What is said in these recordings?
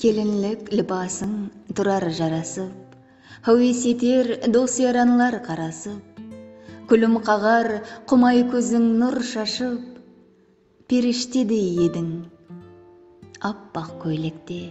Kelinlik libasıń turar jarasıp, Háwes eter dos-yaranlar qarasıp, Kúlim qaǵar qumay kóziń nur shashıp, Perishtedey ediń appaq kóylekte.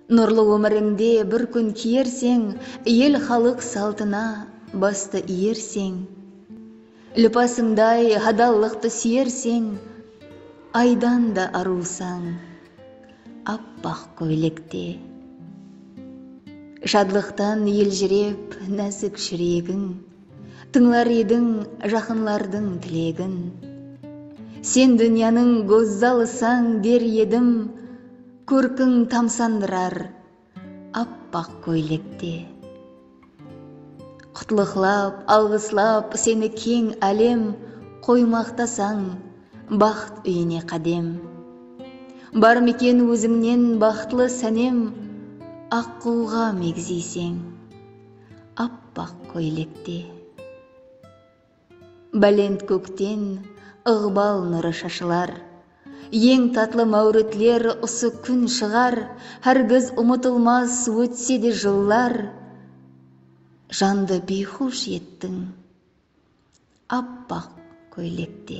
Nurlı ómirińde bir kún kiyerseń El xalıq saltına bastı iyerseń Lipasıńday hadallıqtı súyerseń Aydan da arılsań appaq kóylekte. Shadlıqtan eljirep násik júregiń. Tıńlar ediń jaqınlardıń tilegin. Sen dúnyanıń gózzalısań der edim, Kórkiń tamsandırar appaq kóylekte. Qutlıqlap, alǵıslap seni keń álem, Qoymaqtasań baxt úyine qádem. Bar meken ózińnen baxtlı sánem, Aqqulǵa megziyseń. Appaq kóylekte bálent kókten Iǵbal nurı shashılar. Eń tatlı máwritler usı kún shıǵar Hárgiz umıtılmas ótse de jıllar Jandı biyxush ettiń appaq kóylekte.